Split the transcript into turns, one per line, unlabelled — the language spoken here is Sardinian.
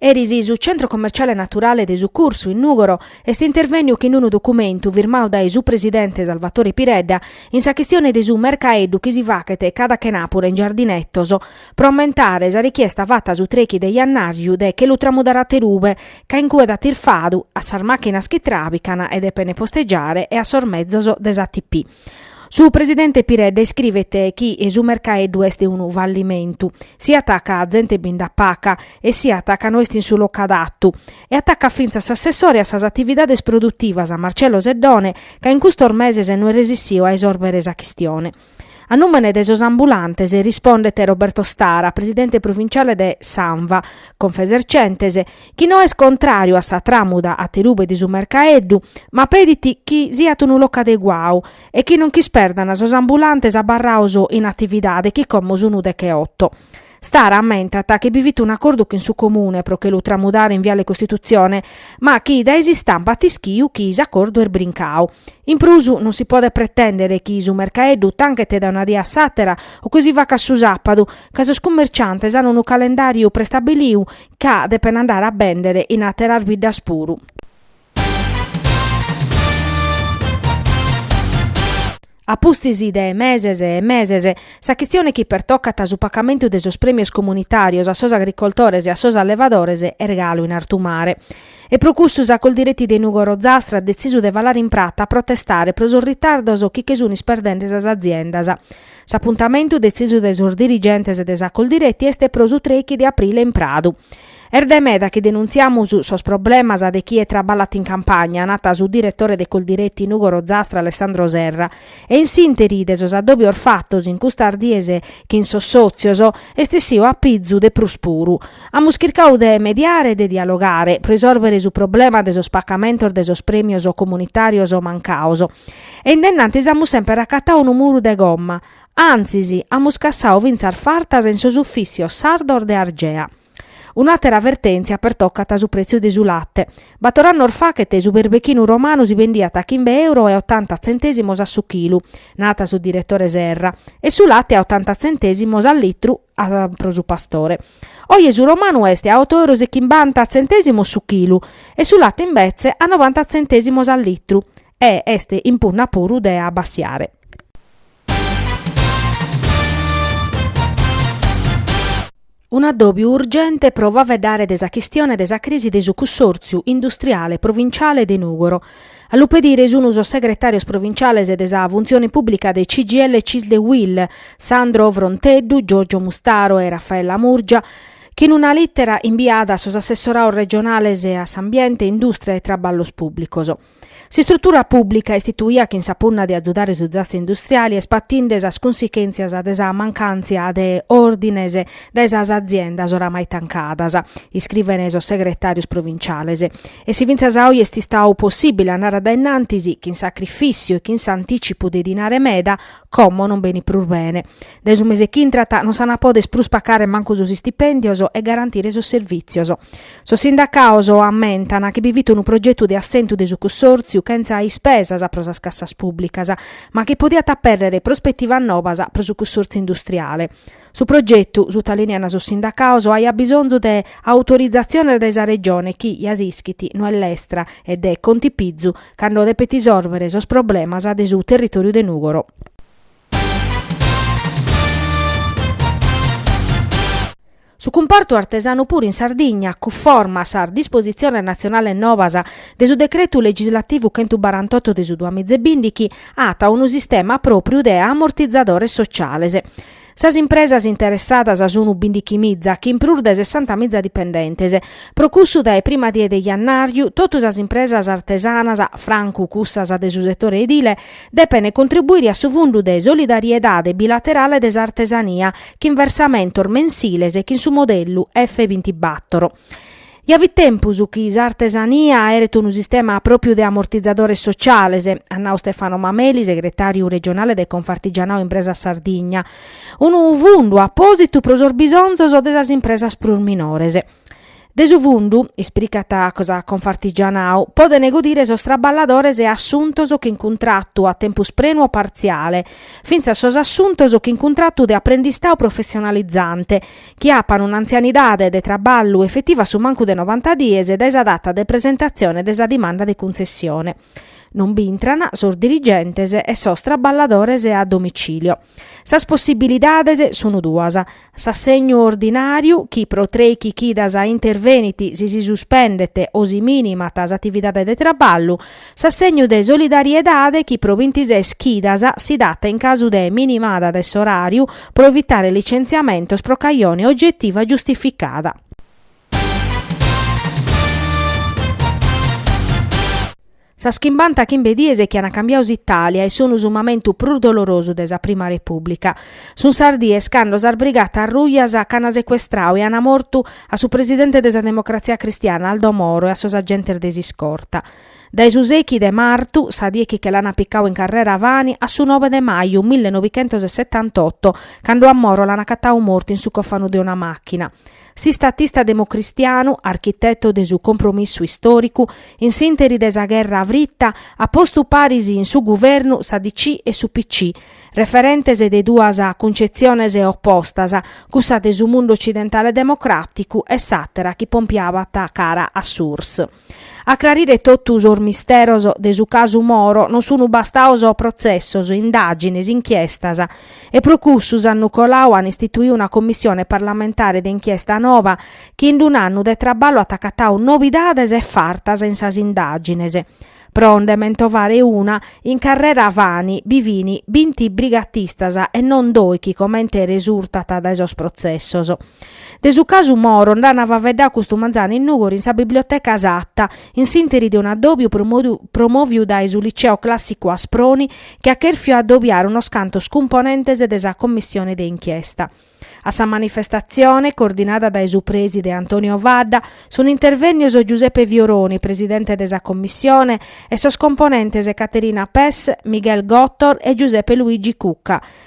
Eris su Centro Commerciale Naturale de su Cursu, in Nùgoro, est intervènniu chin unu documentu firmau dae su presidente Salvatore Piredda in sa chistione de su mercaeddu chi si fachet cada chenàpura in Giardinetos, pro ammentare sa richiesta fata a su trechi de Jannàriu de che lu tramudare aterube, ca in cue dat irfadu, a sas màchinas chi tràbican e depen postegiare e a sos mezos de s'ATP. Su presidente Piredda iscrivet chi su mercaeddu est unu fallimentu, siat ca zente bi nd'at paca e siat ca no est in su locu adatu, e atacat fintzas s'assessore a sas atividades produtivas Marcello Seddone ca in custos meses no est resissiu a isòrbere sa chistione. A nùmene de sos ambulantes rispondet Roberto Stara, presidente provinciale de s'ANVA, Confesercentes, chi no est contràriu a sa tràmuda aterube de su mercaeddu, ma pedit chi siat unu locu adeguau e chi non nch'isperdant sos ambulantes abarraos in atividade chi como sun decheoto. Stara ammentat chi bi fit un'acordu chin su Comune pro che lu tramudare in Viale Costituzione, ma chi dae s'istampa at ischiu chi s'acordu est brincau. In prus non si podet pretèndere chi su mercaeddu tanchet dae una die a s'àtera o chi si facat su sàpadu, ca sos cummerciantes ant unu calendàriu prestabiliu ca depen andare a bèndere in àteras biddas puru. A pustis de meses e meses, sa chistione chi pertocat su pacamentu de sos prèmios comunitàrios a sos agricoltores e a sos allevadores est galu in artu mare. E pro custu sa Coldiretti de Nùgoro Zastra at detzisu de falare in prata a protestare pro sos ritardos chi che sun isperdende sas aziendas. S'apuntamentu detzisu dae sos dirigentes de sa Coldiretti est pro su trechi de aprile in Pradu. Est dae meda chi denuntziamus sos problemas de chie traballat in campagna, nat su diretore de Coldiretti Nùgoro Zastra Alessandro Serra, e in s'ìnteri de sos addòbios fatos in custas dies chin sos sòtzios est essiu a pizu de prus puru. Amus chircau de mediare e de dialogare pro risòrbere su problema de sos pacamentos de sos prèmios comunitàrios mancaos, e in de innantis amus semper acatau unu muru de gomma, antzis amus cassau fintzas fartas in sos ufìssios sardos de Argea. Un'àtera vertèntzia pertocat su prètziu de su late. Bator annos fachet su berbechinu romanu si bendiat a chimbe euro e otanta tzentèsimos a su chilu, nat su diretore Serra, e su late a otanta tzentèsimos a litru, a pro su pastore. Oje su romanu est a oto euros e chimbanta tzentèsimos su chilu e su latte imbetze a novanta tzentèsimos a litru e est in punna puru de abbassiare. Un'addòbiu urgente pro faveddare de sa chistione de sa crisi de su cunsòrtziu industriale provintziale de Nùgoro, A lu pedire sunu sos segretàrios provinciales de sa Funtzione Pùblica de CGIL Cisle Uil, Sandro Fronteddu, Giorgio Mustaro e Raffaella Murgia, chi in una lìtera imbiada a sos assessorados regionales a s'Ambiente, Indùstria e Traballos Pùblicos. S'istrutura pùblica istituida chin sa punna de azudare su zassu industriale est patinde sas cunsichèntzias de sa mancàntzia de òrdines dae sas aziendas oramai tancadas, iscrivene sos segretàrios provinciales. E si fintzas a oi est istadu possìbile a andare a dae innantis, chin sacrifìssiu e chin s'antìtzipu de dinare meda, como non benit prus bene. Dae su mese chi intrat non s'ant a poder prus pacare mancu sos istipèndios e garantire sos servìtzios. Sos sindacados ammentan chi bi fit unu progetu de assentu de su cussòrtziu chentza ispesas pro sas cassas pùblicas, ma chi podiat apèrrere prospetivas nobas pro su cussòrtziu industriale. Su progetu, sutalìneant sos sindacados, aiat bisonzu de autorizatziones dae sa Regione chi, ja s'ischit, no est lestra e de contipizu cando depet isòrvere sos problemas de su territòriu de Nùgoro. Su cumpartu artesanu puru in Sardigna, cunforma a sas dispositziones natzionales novas de su Decretu legislativu chentu barantotto de su duamiza e bìndighi, at unu sistema pròpriu de amortizadores sociales. Sas impresas interessadas sunu bindichimiza chin prus de sessantamiza dipendentes. Pro cussu dae prima die de jannàriu totu sas impresas artesanas, francu cussas de su setore edile, depent contribuire a su fundu de solidariedade bilaterale de s'artesania chin versamentos mensiles chin su modellu F bintibattoro. Ja fit tempus chi s'artesania aeret unu sistema pròpriu de amortizadores sociales, at nau Stefano Mameli, segretàriu regionale de Confartigianao Impresas Sardigna. Unu fundu apòsitu pro sos bisonzos de sas impresas prus minores. De su fundu, ispricat sa Confartigianao, podent godire sos traballadores assuntos chin cuntratu a tempus prenu o partziale, fintzas sos assuntos chin cuntratu de aprendistadu professionalizante, chi apan un'antzianidade de traballu efetiva a su mancu de novanta dies dae sa data de presentatzione de sa dimanda de cuntzessione, non b'intran sos dirigentes e sos traballadores a domicilio. Sas possibilidades sun duas, s'assegnu ordinàriu chi pro trèichi chidas intervenit si si suspendet o si minimat s'atividade de traballu, S'assegnu de solidariedade chi pro bintises chidas si dat in casu de minimada de s'oràriu pro evitare licentziamentos pro cajone ogetiva giustificada. Sas chimbanta chimbe dies chi an cambiadu s'Itàlia e sunu su mamentu prus dolorosu de sa prima Repùblica. Sun sas dies cando sas brigatas rujas ch'an secuestradu e an mortu a su presidente de sa Democratzia Cristiana Aldo Moro e a sos agentes de s'iscorta. Dae su sechi de martu, sa die chi che l'ana picau, in carrera Fani, a su nobe de maju millenobichentos e setantotto, cando a Moro l'an acatau mortu in su cofanu de una machina. S'istatista democristianu, architetto de su compromissu istoricu, in s'interi de sa gherra fritta, at postu paris in su guvernu sa DC e su PC, referentes de duas cuncetziones oppostas, cussa de su mundu occidentale democraticu e s'atera chi pompiabat cara a s'URSS. A crarire totu sos misteros de su casu Moro non sun bastados protzessos, indàgines, inchiestas. E pro cussu s'annu coladu an istituidu una commissione parlamentare de inchiesta nova chi in un'annu de traballu at acatadu novidades e fartas in sas indàgines. Pro nde mentovare una, in carrera Fani, bi fin binti brigatistas e non doighi comente resurtat dae sos protzessos. De su casu Moro nd'ana faveddau custu manzanu in Nùgoro in sa biblioteca Satta, in s'interi de un'addòbiu promòviu dae su Liceo Clàssicu Asproni chi at chèrfiu addobiare unos cantos cumponentes de sa commissione de inchiesta. A sa manifestatzione, coordinada dae su prèside Antonio Fadda, sunt intervènnios Giuseppe Fioroni, presidente de sa commissione, e sos componentes Caterina Pes, Miguel Gotor e Giuseppe Luigi Cucca.